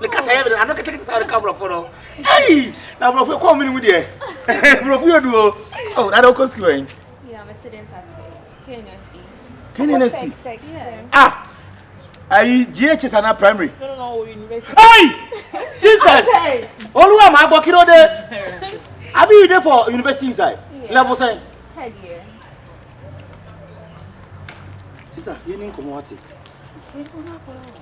ne kasa yɛ bɛn ano kɛtɛkɛtɛ saa ɔreka aborɔfo no ayi na aborɔfo kɔn mu ne mu deɛ aborɔfo yɛ duo ɔ na ɔkɔ sukuu ɛn. knsd ah ayi ghs ana primary ayi jesus olúwa máa gbọ́ kí ló dé abi you dey for university inside level sẹ́yìn. sista yẹn ní nkɔmɔ wa ti.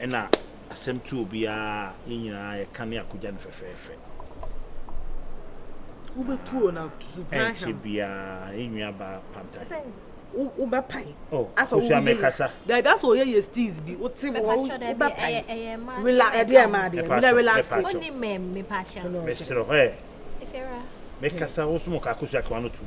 Ɛna asɛm tu obiara a yɛn nyinaa yɛka ne akogya no fɛfɛɛfɛ. Wobɛtuo na supan ahwɛ. Ɛnkyɛ biara yɛn nua baa Pantan. Wobɛ pan. Oh, Akosua mekasa. Dabi asɛ ɔyɛ yɛ steez bi, wote wɔ wobɛ pan. Wila ɛdeɛ ɛma adeɛ, wila relax. Wonni mɛm, mepakyɛ. Mesrɛ hɔ ɛ. Mekasa wo so mo ka Akosua ka wano tum.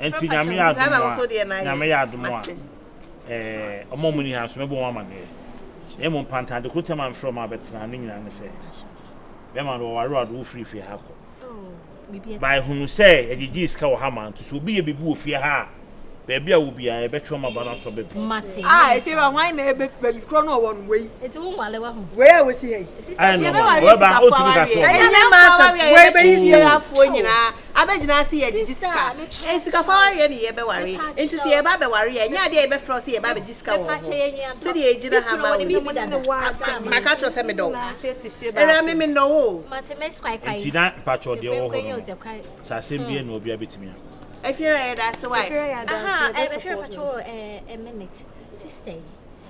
Ɛnti Nyame yɛ adom a, Nyame yɛ adom a, ɛɛ, ɔmo a ɔmo nni ha nso mɛbɔ ɔmo amaneɛ. Na mmom Panta ade koro ntɛm a mefrɛ ɔmo abɛtena ha no nyinaa ne sɛ, bɛɛma no wɔware wo ade wo firi fie ha kɔ. Ba ehunu sɛ yɛgyegyee sika wɔ ha ma, nti sɛ obi yɛ biribi wɔ fie ha a, baabi a ɔwɔ biara yɛbɛtwe ɔmo aba no aso aba bi. A, efie ba hwan na ɛbɛ fi baabi korɔ na ɔwɔ no, wei, wei a wɔsi ha yi. Ayɛ nɔma, ɔbɛba a, ɔntumi ka sɛ ɔbɛba. Ɛnyɛ maasɛm, wei bɛyi fie ha foɔ nyinaa, Abɛgyina ase yɛ gyegye sika. Nsikafo aware yɛ ne yɛ bɛware. Nti sɛ yɛba abɛware a, ɛnyɛ adeɛ a yɛbɛfrɛ wo sɛ yɛba abɛgye sika wɔ wo ho. Sɛdeɛ yɛgyina ha ma wo yi, maka akyerɛ wo sɛ medɔ wo. Awuraa me, mennɔ wo o. Nti na mpakyɛw deɛ ɔwɔ hɔ no no sɛ asɛm biara nni hɔ obiara bɛtumi a. Afiri a yɛda ase wai. Aha ɛɛ mefiri mpakyɛw o ɛɛ a minute. Sister yi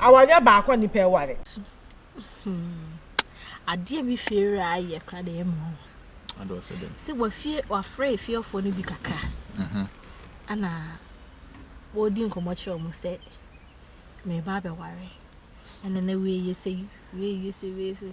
Awareɛ baako a nipa ɛware. Adeɛ bi fie a ayɛ kora na ɛmu ho. Sɛ wafie wafrɛ efiefoɔ no bi kakra. Ɛna wɔredi nkɔmɔ kyerɛ wɔn sɛ mɛba abɛware. Ɛna na wei yɛ sɛ wei yɛ sɛ wei yɛ sɛ.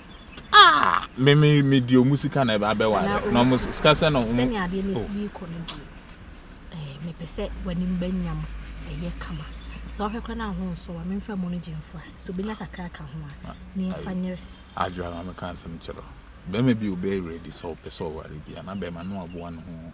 Ah, me me me di omu sika na ɛbɛ abɛ ware. Na ɔmo sika sɛ na ɔmo. Sɛnea adeɛ no esi rekɔ no deɛ, ɛɛ mepɛ sɛ w'anim bɛnya mo ɛyɛ kama. Sɛ ɔhwɛ kora na ho nsɔ wa, memfa mu no gye mfo a, sɛ obenya kakra ka ho a, ah, ne yɛmfa nyere. Adwo a mame ka asɛm kyerɛ. Bɛrima bi obɛ ready sɛ ɔpɛ sɛ ɔware bi a, na bɛrima no aboa ne ho.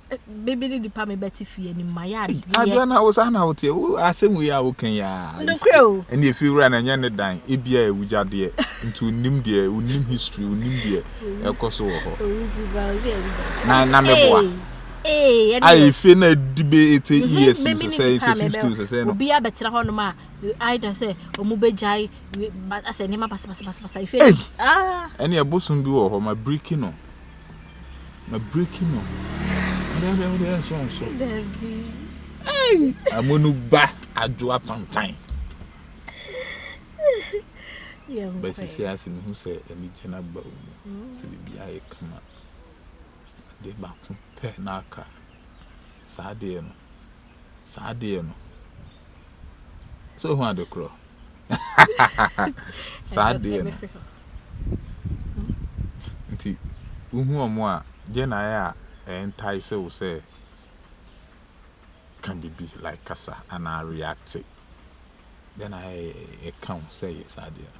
me me ne nipa me bɛte fie anim ma yɛ adeɛ adeɛ na wo saa na wo teɛ wo asɛm wei a wo kan yɛ a nokorɛ o ɛne efi wura na nyɛ ne dan ebi a ewugya deɛ nti onim deɛ onim history onim deɛ ɛkɔ so wɔ hɔ na na me boa ee ɛne a efi na di be ete mhm, years mi sɛ sɛ fifty sɛ sɛ no obi abɛtena hɔ nom a aida sɛ ɔmo bɛ gyae asɛ nneɛma basabasabasa efi ɛne ah. ɛbosom bi wɔ hɔ ma biriki no. Mabiriki no. Ɛdɛɛdɛ wode ɛnso nso. Dabi. Ei! Amunu ba adwo apantan. Yɛnkɔ. Bɛsisi ase mehu sɛ anigye no aba wo mu. Sɛ biribi ayɛ kama. Adeɛ baako pɛ na aka. Saa adeɛ no, saa adeɛ no sɛ ohu ade korɔ saa adeɛ no nti wohu ɔmo a gye na ayɛ a ɛntae sɛ wo sɛ ka biribi like kasa anaa react gye na ayɛ ɛka wo sɛ yɛ saa adeɛ no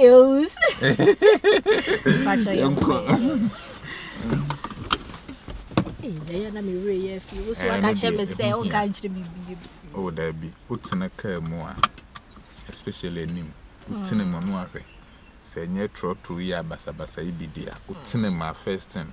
Eos. Pacho yɛ nkɔ. Ee, yɛyɛ na mewura yɛ afi. Wo so aka kyerɛ me sɛ wo ka nkyerɛ me bi. Oh, da bi. Wotena kaa mu a, especially anim. Wotena mu no ahwɛ. Sɛ nyɛ trɔtrɔ yi a basabasa yi bi di a, wotena mu a first time.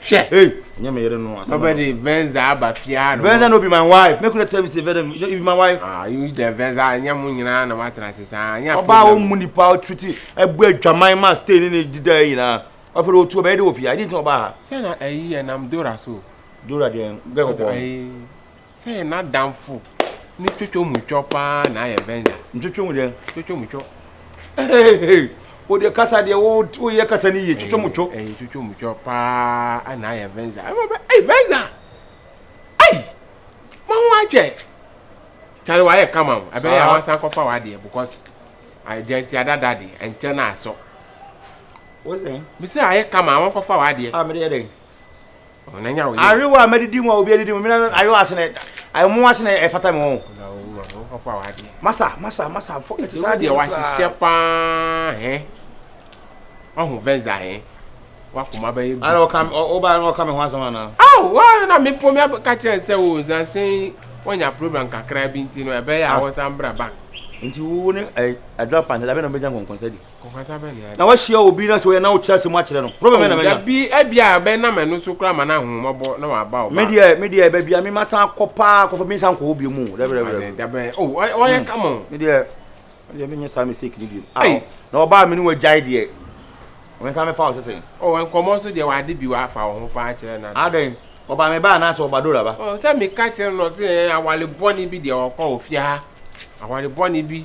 Hwɛ. Hey, nyɛ me yere no. Baba de Venza aba fie ha no. Venza no be my wife. Make una tell me say Venza no be my wife. Ah, you the Venza nyɛ mo nyinaa na matena ase saa. Anya problem. Ɔbaa wo mu nipa o triti ɛbu adwaman ma stay ne ne dida yɛ nyinaa. Ɔfɛ de otu ɔbɛyɛ de wɔ fie ha. Ɛdi nti ɔbaa ha. Sɛ na ɛyi yɛ nam Dora so. Dora deɛ gɛ kɔkɔɔ. Ɛyi Sɛ yɛ n'adamfo ne twotwo mu twɔ paa na ayɛ bɛnza. Ntwotwo mu dɛ. Twotwo mu twɔ. O deɛ kasa deɛ wo wo yɛ kasa ne yie twotwo mu twɔ. Ɛyɛ twotwo mu twɔ paa na ayɛ bɛnza. Ɛma bɛ ɛy bɛnza. Ɛy ma ho akyɛ. Kyale wa yɛ kama o. Ɛbɛyɛ a wansan kɔfa wa deɛ because deɛ nti adada deɛ ɛnkyɛ na asɔ. Wosɛn. Mesi ayɛ kama wɔn kɔfa wa deɛ. A mɛ deɛ dɛ. ayewa a mɛdidi mu a obi adidi mu mena ayewa ase na ɛmo ase na ɛfata me wɔn masa masa masa fɔ ɛte saa deɛ wahyehyɛ paa hɛ wahu vɛnza hɛ wakoma bɛyɛ gu ara ɔka ɔba na ɔka me ho asɛm ana aw wa na me po me ka kyerɛ sɛ o nsansen wanya program kakra bi nti no ɛbɛyɛ a wɔsan bra ba nti wo ne adwa pantɛ da bɛ na ɔbɛnya nkɔnkɔnsɛ di na wahyia obi na sɛ ɔyɛ na wokyerɛ asɛm akyerɛ no problem na mɛnya bi ɛbi a bɛ na mɛ no so kura ma na ho ma bɔ na wa ba o me deɛ me deɛ bɛ bi a me ma san kɔ paa kɔfɔ mi san kɔ obi mu dɛbɛ dɛbɛ dɛbɛ o ɔyɛ kama o me deɛ me deɛ me nyɛ saa mistake ni bi awo na ɔbaa mi ni wɔ gyae deɛ wɔn san mi fa o sɛsɛn. o nkɔmɔ so deɛ wade bi wa fa ɔho paa kyerɛ na. adɛn ɔbaa mi ba anaasɛ ɔba dora ba. ɔ sɛ mi ka kyerɛ no sɛ awale bɔ ni bi deɛ ɔkɔ ofia awale bɔ ni bi.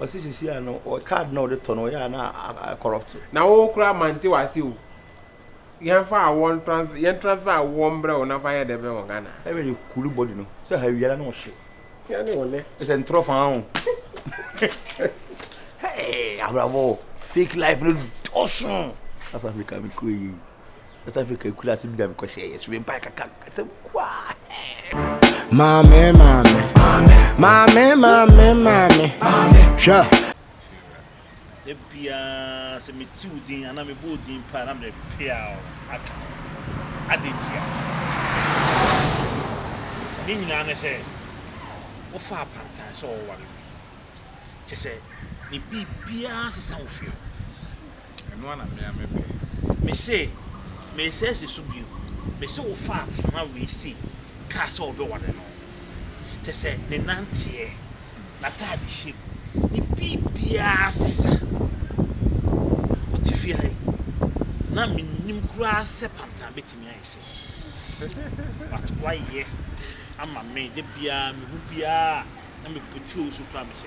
Ɔsi sisi a no wɔ card na ɔde tɔ no ɔyɛ a na a corrupt. Na wo koraa mante wase o. Yɛn fa awɔ ntransfer yɛn transfer awɔ mbrɛ wo na fa yɛ dɛ bɛ wɔ Ghana. Ɛna de cool body no sɛ ha wia na na ɔhye. Yɛn ne wo nɛ. Ɛsɛ ntorɔ fa ho. Hey abrabɔ fake life no dɔso. South Africa mi kɔ yie. South Africa akuraase bi na mekɔhyɛ yɛ so mebae kaka asɛm kuaa Maame maame maame maame maame hwɛ da biara sɛ metiw din anaa mebɔɔ din paa na mede peaw aka adɛn ntia ne nyinaa ne sɛ wofa apantan sɛ ɔware bi kyɛ sɛ ne biribiara sesa wo fie Ɛno ara na me ara mepɛ. Mese, Meresan asi so bio. Mese wo fa afenaa wei sei kaa sɛ wobɛware no. Kyerɛ sɛ ne nanteɛ, n'ataadehyɛ mu, ne biribiara sesa. Ɔte fie ha yi, na mennim koraa sɛ panta bɛtumi ayɛ sei. But woayɛ ama me, da biara mehu biara a na mebutuo so koraa mese.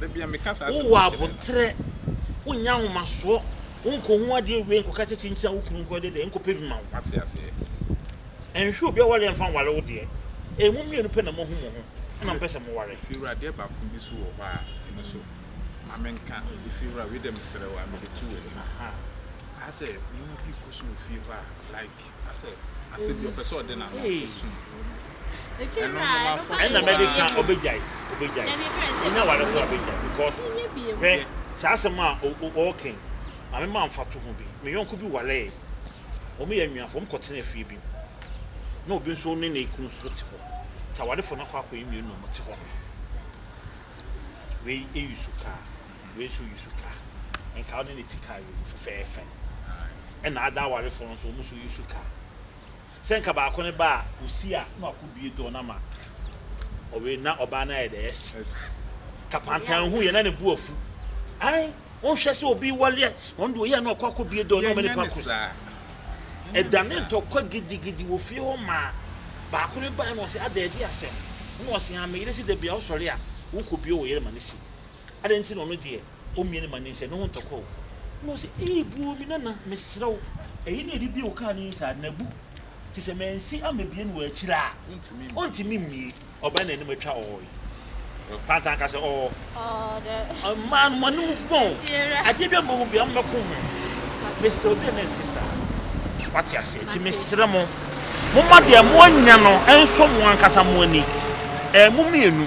Wowɔ aboterɛ, wonyɛ ahomasoɔ, wonkɔhu adeɛ nwie nkɔka kyɛ kyinkyin a wo kunu nkɔ yɛde dɛn nkɔpɛ bi ma wo. Nhwɛ obi a ɔware a mfa nware wo deɛ. Ee mo mmienu pɛ na moahu mo ho ɛna mpɛ sɛ moware. Efiewura adeɛ baako bi nso wɔ hɔ a ɛno nso ma menka. Efiewura wei deɛ mesrɛ wo a mede to w'anim. Aha sɛ nneɛma bi rekɔ so wɔ fie hɔ a like Ɛna mɛde ka ɔbɛgyae ɔbɛgyae ɔnya ware ho abɛgyae because hwɛ saa asɛm a ɔɔkɛn ma me ma mfato ho bi me yɔnko bi waree wɔn yɛ anuafo wɔn kɔ tena fie bi mu na obi nso ne ne kunu nso te hɔ ta warefo no akɔ akɔ yɛ mmienu na wɔn te hɔ no wei eyi su kaa. Wei nso yi suka. Nka wode ne ti kaa wei mu fɛfɛɛfɛ. Ɛna ada awarefoɔ nso wɔn nso yi suka. Sɛ nka baako no ba a, ɔsi a na wakɔbue door no ama ɔwei na ɔbaa no ayɛ dɛ asi. Kapantan hu yɛ na ne bo afu. Ae, wonhwɛ sɛ obi wale a, ɔno deɛ ɔyɛ a na wakɔ akɔbue door no ama nipa koro so. Ɛdane ntɔkwa gidigidi wɔ fie hɔ maa baako no bae na ɔse, Ada adi asɛm. Ɛna ɔse, Aa, me yere se da biara wosɔre a, wokɔbue wo yere ma no si. Adɛn nti na ɔno deɛ ɔmmue ne mane sɛ ne ho ntɔkɔ o? Na ɔse, Ei buo me nana, mesrɛ wo, ɛyi na ɛde bie wo kaa no yi saa, na bu, te sɛ mansi ammɛbie no wɔ akyire a, ɔntumi mmue. Ɔbaa no anim atwa ɔɔe. Pantan ka sɛ, Ɔɔ. Mmaa no, mo anom gu o, adeɛ biara mmɔho biara, mommɛko ho. Mesrɛ wo, deɛ na ɛnte saa. Wate aseɛ? Nti mesrɛ mo, momma deɛ moanya no nsɔ mo ankasa mo ani, ɛɛ, mo mmienu.